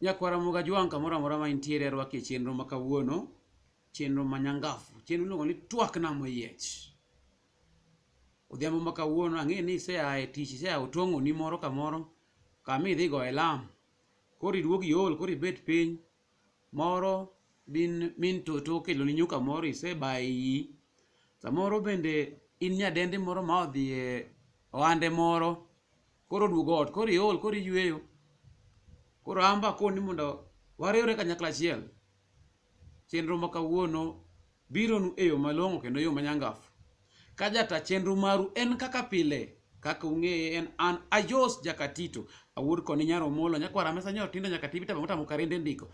Nyakwara Muga Jwang' kamoro amora ma intiere rwaki e chenro ma kawuono, chenro ma nyangafu, chenro miluongo ni twak nam oyiech. Odhiambo ma kawuono ang'e ni isea e tich, isea otong'oni moro kamoro kama idhi goye lam. Koro iduog iol, koro ibet piny, moro bin min toto okeloni nyuka moro isebaye iyi samoro bende in nyadendi moro ma odhi e ohande moro koro oduogo ot koro iol koro iyweyo koro an be akoni mondo wariwre kanyakla achiel chenro ma kawuono bironu e yo malong'o kendo yo manyangafu. Ka jata chenro maru en kaka pile, kaka ung'eye en an Ajos Jakatito, awuod koni nyar Omolo, nyakwar Amesa nyor Tindo nyaka Tibita Bang'ota Mukarende ndiko.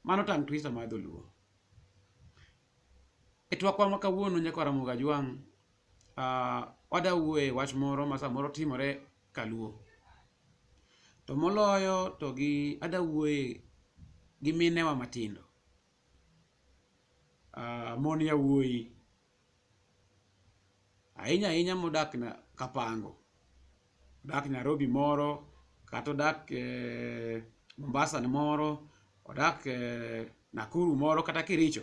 Mano tang' twisa mar dholuo. E twakwa ma kawuono nyakwar Ramogi Ajwang', ah, wada wuoye wach moro ma samoro timore kaluo. To moloyo to gi ada wuoye gi minewa matindo. ah, mon yawuoyi ahinya ahinya modak na Kapango odak Nairobi moro kata odak eh, Mombasa ni moro odak eh, Nakuru moro kata Kericho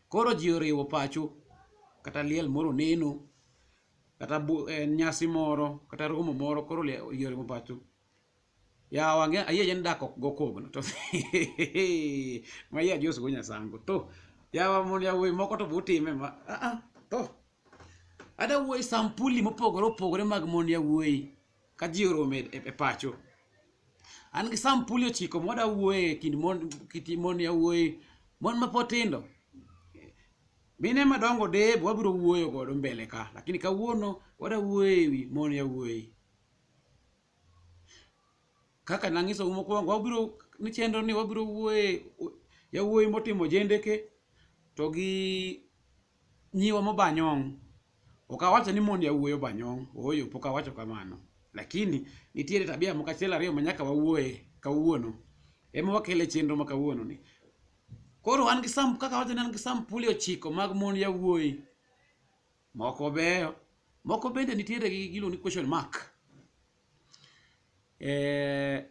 koro ji oriwo pacho kata liel moro neno kata bu- eh, nyasi moro kata romo moro koro lie- ji oriwo pacho yawa ange ayie yen dak ok go kogno to ma yie adios go nyasango to yawa mon yawuoyi moko to butime ma ah, ah, to ada wuoyi sampuli mopogore opogore mag mon yawuoyi ka ji orome e, e pacho an gi sampuli ochiko mwada wuoye e kind mon kiti mon yawuoyi mon mapotindo mine madongo deb wabiro wuoyo godo mbele ka lakini kawuono wada wuoye ewi mon yawuoyi kaka nang'isou mokwongo wabiro ni chenro ni wabiro wuoye yawuoyi motimo jendeke to gi nyiwa mobanyong' ok awacho ni mond yawuoyi obanyong' ooyo pok awacho kamano lakini nitiere tabia moko achiel ariyo ma nyaka wawuoye kawuono ema wakele chenro ma kawuono ni koro an gi sam kaka awacho ni an gi sampuli ochiko mag mond yawuoyi moko beyo moko bende nitiere gi gilo ni question mark eh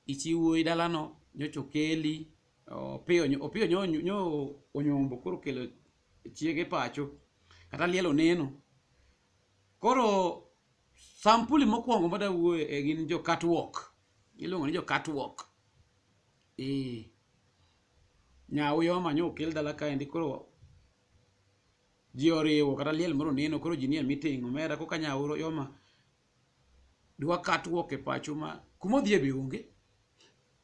ichiwo i dalano nyocha okeli opiyo nyo- opiyo nyo- nyo- nyo onyombo koro kelo chiege pacho kata liel oneno koro sampuli mokwongo ma dawuoye e gin jo catwalk iluongo ni jo catwalk ee nyawu yoma nyo okel dala kaendi koro ji oriwo kata liel moro neno koro ji nie meeting omera koka nyauro yoma dwa catwalk e pacho ma kuma odhi e be onge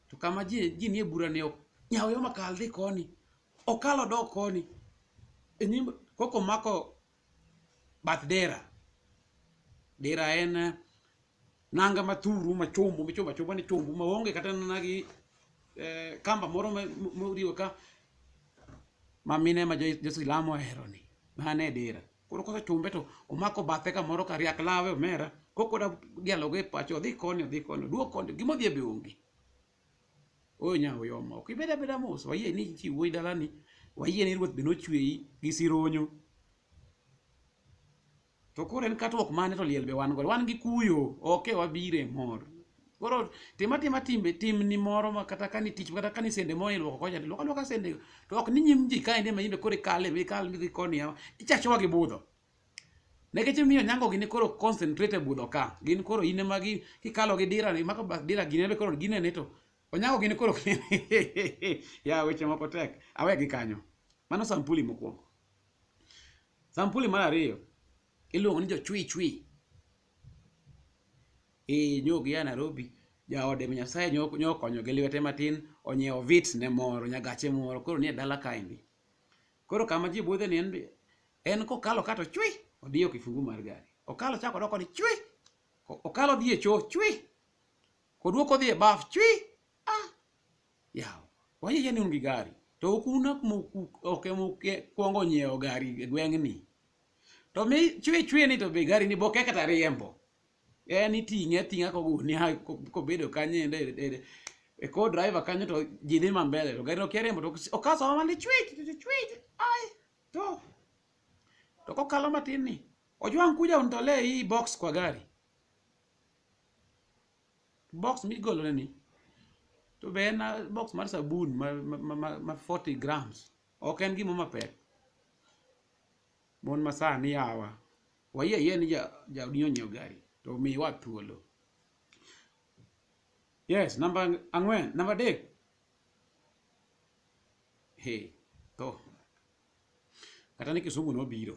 to kama ji ji nie bura ne ok nyawo yoma kal dhi koni okalo dok koni e nyim koko mako bath dera dera en eh, nanga mathuru machombo michombo achomba ni chombo maonge kata nana gi eh, kamba moro ma- mo- moriwo ka mamine ma jo- josilamo oheroni mane dira koro kosechombe to omako bathe kamoro ka riak lawe omera kokoda dialogo e pacho odhi koni odhi koni duok koni gima odhi e be onge oyo nya oyoma ok ibed abeda mos wayie ni chi wuoyi dalani wayie ni ruoth be nochweyi gi sironyo to koro en katruok mane to liel be wan godo wan gi kuyo oke wabiro e mor koro tima tima timbe timni moro ma kata kani tich kata kani sende moro ilwoko kocha to ilwoko alwoka sende to ok ni nyim ji kaendi ema imbe koro ikale be ikal midhi koni yawa ichachowa gi budho nikech imiyo nyango gini koro concentrate e budho ka gin koro in ema gi kikalo gi dira ni mako bath dira gine be koro ginene to onyango gini koro ya weche moko tek awe gi kanyo mano sampuli mokwongo Sampuli mar ariyo iluongo ni jochwichwi. Ee nyog ya Nairobi jaode ma Nyasaye nyo- nyokonyo gi lwete matin onyiewo vit ne moro nyagache moro koro nie dala kaendi. Koro kama ji budhe ni en be en kokalo kato chwi odiyo kifungu mar gari. Okalo chako odoko ni chwi. Ko- Okalo dhi e choo chwi. Koduoko dhi e baf chwi. Ah. yawa wayie ni un gi gari to ok un ok moku- ok ema uke- kwongo nyiewo gari e gweng'ni to mi chwe chwe ni to be gari ni boke kata riembo en iting'e ating'a kogunia ko- kobedo kanyo ende e- e- e ko driver kanyo to ji dhi ma mbele to gari no kia riembo to ok- okaso ma mali chwich to chwich ai to to kokalo matin ni ojwang' kuja untolee hii box kwa gari box migolone ni to be en ah, box mar sabun ma, ma, ma, ma, ma 40 grams ok en gimo mapek mon masani yawa wayie ayie ni ja- jaodi onyiew gari to miwa thuolo yes namba ang'wen namba adek he to kata ni Kisumu nobiro.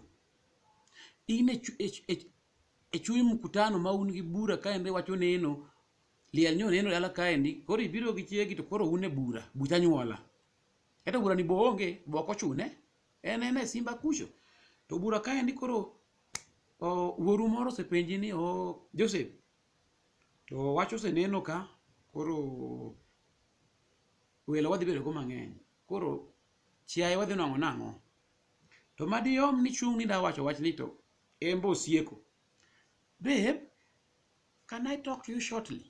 In e, chu- e, chu- e, chu- e chuny mkutano ma un gi bura kaendi wacho neno, liel nyo neno dala kaendi, koro ibiro gi chiegi to koro un e bura, buch anyuola. Kata bura ni bo onge, bo ok ochune, en en e simba kucho. To bura kaendi koro o, wuoru moro osepenji ni o, Joseph, to wach oseneno ka, koro welo wadhi bedo go mang'eny koro chiaye wadhi nwang'o nang'o to madiyom ni chung' ni da wacho wach ni to en be osieko babe can i talk to you shortly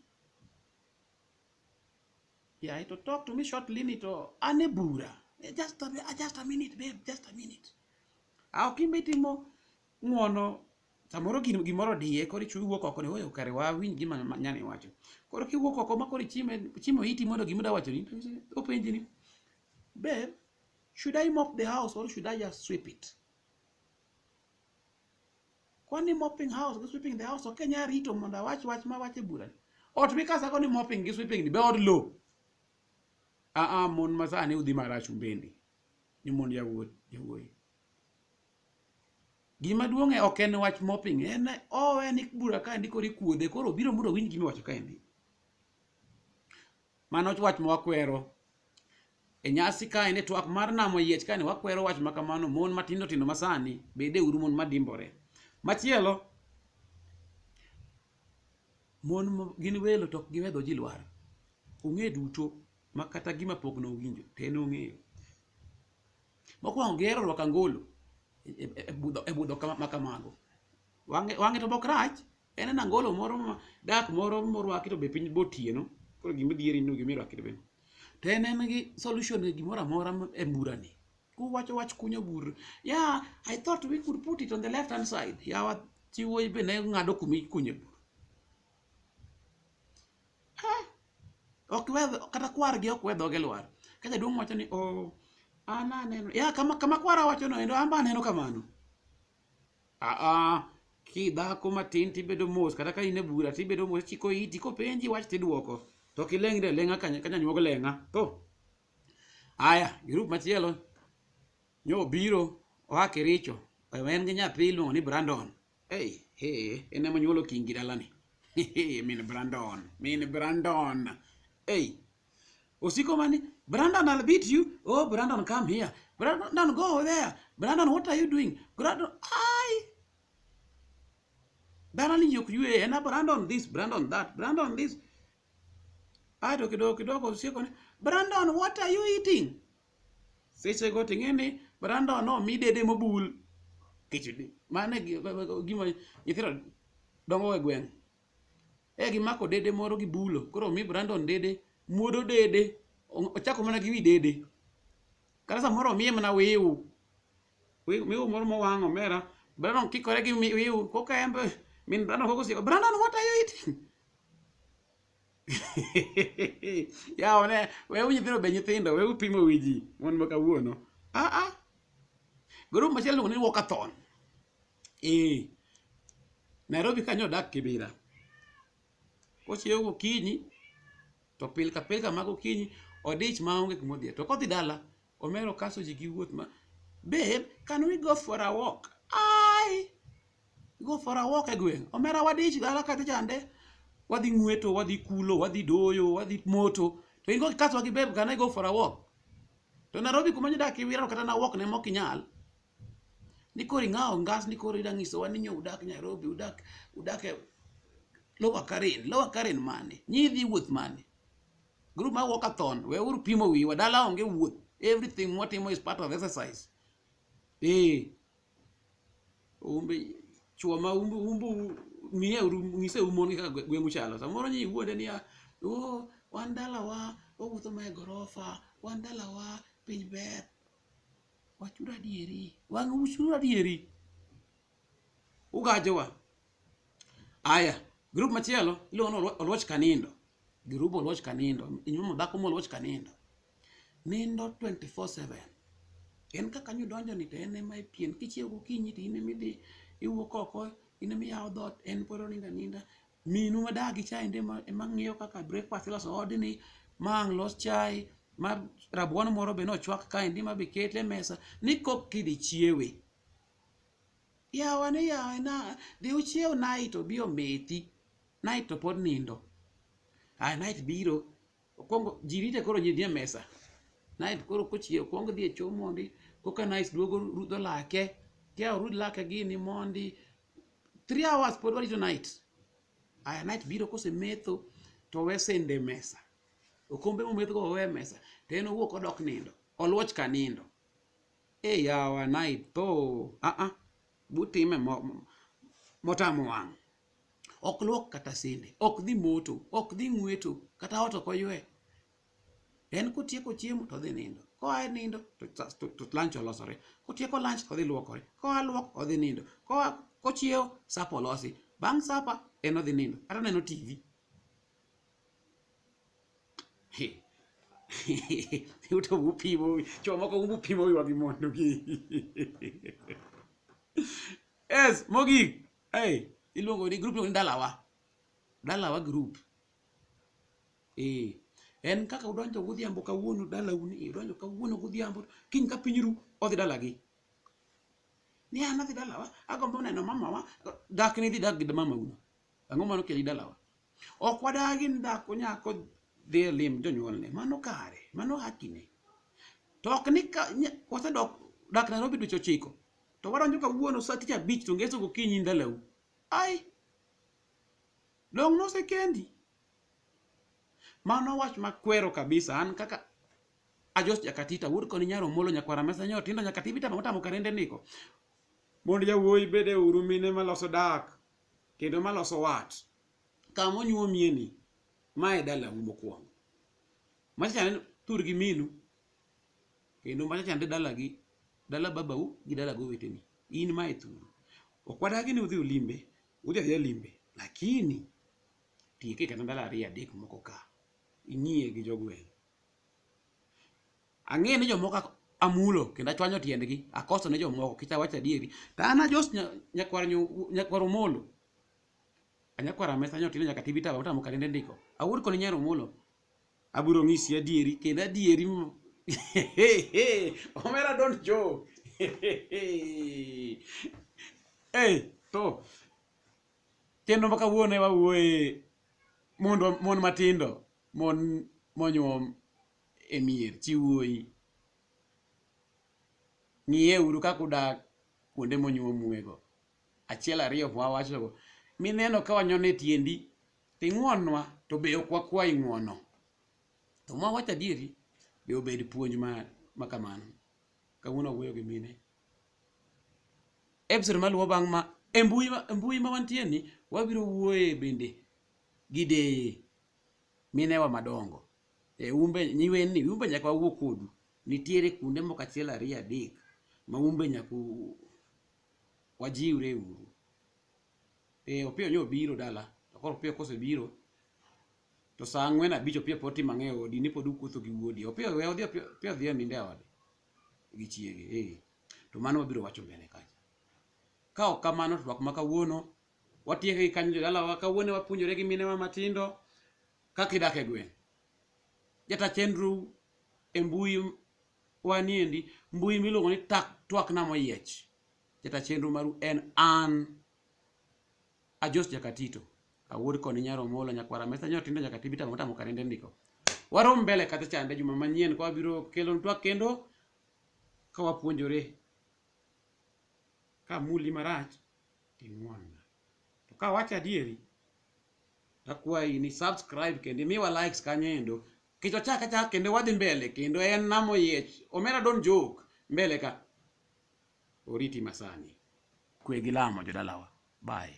yeah to talk to me shortly ni to an e bura Eh, just a, mi- ah, just a minute babe just a minute ah ok imbe timo ng'wono samoro gin- gimoro diye koro ichu- iwuok oko ni oyo kare wawinj gima ma- nyani wacho koro kiwuok oko ma koro ichime chimo iti mondo gima da wacho ni to iche- openji ni babe should i mop the house or should i just sweep it kwani mopping house gi sweeping the house ok nya rito mondo awach wach ma wache bura ni ot mikasako ni mopping gi sweeping ni be od lo aa mon masani udhi marach umbeni ni mond yawuot yawuoyi Gima duong' e ok en wach moping, en oh en ik bura ka endi koro ikuodhe, koro obiro mondo owinj gima iwacho ka endi. Mano wach ma wakwero. E nyasi ka endi twak mar namo yiech ka endi wakwero wach ma kamano mon matindo tindo masani bede uru mon madimbore. Machielo mon mo- gin welo to ok giwe dho ji lwar. Ong'e duto ma kata gima pok nowinjo to en ong'eyo. Mokwongo gihero rwako angolo e, e, e budho, e budho kama, ma kamago. Wang'e, wang'e to bok rach, en en angolo moro ma dak moro morwaki to be piny botieno. Koro gima dhieri no gima irwaki to be. To en en gi solution e gimoro amora ma- e mburani. Kuwacho wach kunyo bur. Yeah, I thought we could put it on the left hand side. Yawa chiwo be ne ng'ado kuma ikunye bur. Ha! ok we kata kwar gi ok we dhoge lwar ka jaduong' wacho ni oh an aneno ya kama kama kwara wacho no endo an be aneno kamano aa kidhako matin tibedo mos kata ka in e bura tibedo mos chiko iti kopenji wach tidwoko to ok ilengre leng'a ka ka nyanyuog leng'a to aya grup machielo nyo obiro oa kericho en gi nyathi iluongo ni brandon Hey, hey, en ema nyuolo kingi dalani. Hey, hey, min Brandon, min Brandon. Hey, osiko mani, Brandon I'll beat you. Oh, Brandon come here. Brandon go over there. Brandon what are you doing? Brandon, I. Dalani yok yue, ena Brandon this, Brandon that, Brandon this. Ato kidogo kidogo osiko ni, Brandon what are you eating? sechego to ing'e ni Brandon omi dede mobul kichdi mano e gi- be- be- gima nyithindo dongo e gweng' e gimako dede moro gibulo koro omi Brandon dede muodo dede o- ochako mana gi wi dede kata samoro omiye mana wiu wiu wiu moro mowang' omera Brandon kikore gi mi- wiu koka en be min Brandon koko osiko Brandon what are you eating yawa ne wew nyithindo be nyithindo wew pimo wi ji mon ma kawuono aa grup machielo iluongo ni walkathon ee nairobi kanyo odak kibira kochiewo gokinyi to pilka pilka mag okinyi odich maonge kumodhie to kodhi dala Omero kaso ji gi wuoth ma babe can we go for a walk ai go for a walk e gweng omera wadich dala kata chande wadhi ng'weto wadhi kulo wadhi doyo wadhi moto to in go kikaso gi babe can I go for a walk to Nairobi kuma nyodak iwirano kata na walk ne mok inyal ni koro ing'awo ngas ni koro ida ng'isowa ni nyo udak Nairobi udak udak e Lower Karen Lower Karen mane nyi idhi wuoth mane Group mar walkathon, we uru pimo wiwa, dala onge wuoth. Everything mwatimo is part of exercise. Eh. Umbe chuo ma umbu umbu miye uru ngise umon kaka gwe- gweng'u chalo. Samoro nyi wuonde niya, "Oh, wan dalawa, wawuotho mae gorofa, wan dalawa, piny ber." Wachuru adieri. Wang' uchuru adieri. ugajowa aya grup machielo iluongo ni Olwo- oluoch kanindo grup oluoch kanindo inyuomo dhako moluoch kanindo nindo 24/7 en kaka nyo donjo ni to en ema ipien kichiew gokinyi to in ema idhi iwuok oko in ema iyawo dhoot en pod oninda ninda minu ma dagi chai ndi ema- ema ng'iyo kaka breakfast iloso odni ma ang' los chai ma rabuon moro be nochwak kaendi ma be ket e mesa ni kok kidhi chiewe Yawa ni yawa na dhi uchiew night obi omethi. Night to pod nindo. Ah night biro. Okwongo ji rite koro ji nie mesa. Night koro kochiew okwongo dhi e choo mondi. Koka night duogo rudho lake. Kia orud lake gini mondi. Three hours pod warito night. Aya night biro kose metho to we sende e mesa. Okombe mometho go owe e mesa. To en owuok odok nindo. Oluoch ka nindo. e yawa naitho aa butime mo- motamo wang' ok luok kata sende ok dhi moto ok dhi ng'weto kata ot ok oywe en kotieko chiemo to odhi nindo koa e nindo to sa- to- to lunch olosore kotieko lunch to odhi luokore koa luok odhi nindo koa kochiewo sapa olosi bang' sapa en odhi nindo kata neno tv yuto mupimo wi chuo moko mupimo wiwa gi mondo gi yes mogik hey, iluongo ni group ni dalawa dalawa group eh en kaka udonjo godhiambo kawuono dalau ni udonjo kawuono godhiambo kiny ka piny ru odhi dalagi ni an adhi dalawa agombo neno mamawa dak ni dhi dak gi mamauno ang'o mano keli dalawa ok wadagi ni dhako nyako dhi e lim jonyuolne mano kare mano hakine to ok ni ka nya- wasedok dak nairobi dweche ochiko to wadonjo kawuono sa tich abich to ngeso gokinyi ndalau ai dong nosekendi mano wach makwero kabisa an kaka ajos jakatita wuod koni nyaro molo nyakwara mesa nyo tindo nyakatibi tamo tamo karende niko mond jawuoyi bede uru mine maloso dak kendo maloso wat kama onyuomie ni ma e dalau mokwongo machachane tur gi minu kendo machachande dalagi dala babau gi dala goweteni in ma e thuru ok wadagi ni udhi ulimbe udhi adhiya limbe lakini tieke kata ndalo ariyo adek moko ka ing'iye gi jogweng' Ang'eyo ni jomoko ak- amulo kendo achwanyo tiendgi, akoso ne jomoko kech awacho adieri. To an ajos nya- nyakwar nyu- nyakwar Omolo. A Nyakwar Amesa nyotin nyaka TV tawa utamo kalende ndiko. Awuod koni nyar Omolo. Abiro ng'isi adieri kendo adieri m- omera don jo. Eh, to chenro ma kawuono e wawuoye mondo mon matindo mon monyuom e mier chi wuoyi ng'iye uru kaka udak kuonde monyuomuego achiel ariyo mwawachogo mineno ka wanyono e tiendi to ing'wonnwa to be ok wakwayi ng'wono to ma wacho adieri be obed puonj ma, ma kamano kawuono wuoyo gi mine episode maluwo bang' ma e mbui ma- e mbui ma wantie ni wabiro wuoye bende gi deye minewa madongo e umbe nyiweni umbe nyaka wawuo kodu nitiere kuonde moko achiel ariyo adek ma umbe nyaka u- wajiwre uru e opiyo nyo obiro dala to koro opiyo kosebiro to saa ang'wen abich opiyo pod tim ang'e odi ni pod ukuotho gi wuodi opiyo we odhi opiyo opiyo dhi e ninde e ode gi chiege eh to mano wabiro wacho mbele kacha ka ok kamano to twak ma kawuono watieke gi kanyo jodalawa kawuone wapuonjore gi minewa matindo kaka idak e gweng' jata chenro e mbui waniendi mbui miluongo ni tak twakna moyiech jata chenro maru en an ajos jakatito awuod koni nyaro mola nyakwara mesa nyo tindo nyaka tibita mota mokarende ndiko warom mbele kata chande juma manyien kwa biro kelo twak kendo ka wapuonjore ka muli marach ing'wonna. To ka awacho adieri, akwayi ni subscribe kendo imiwa likes kanyo endo. Kech wachak achak kendo wadhi mbele kendo en nam oyiech. Omera don jok mbele ka. Oriti masani. Kwe gi lamo jodalawa. Bye.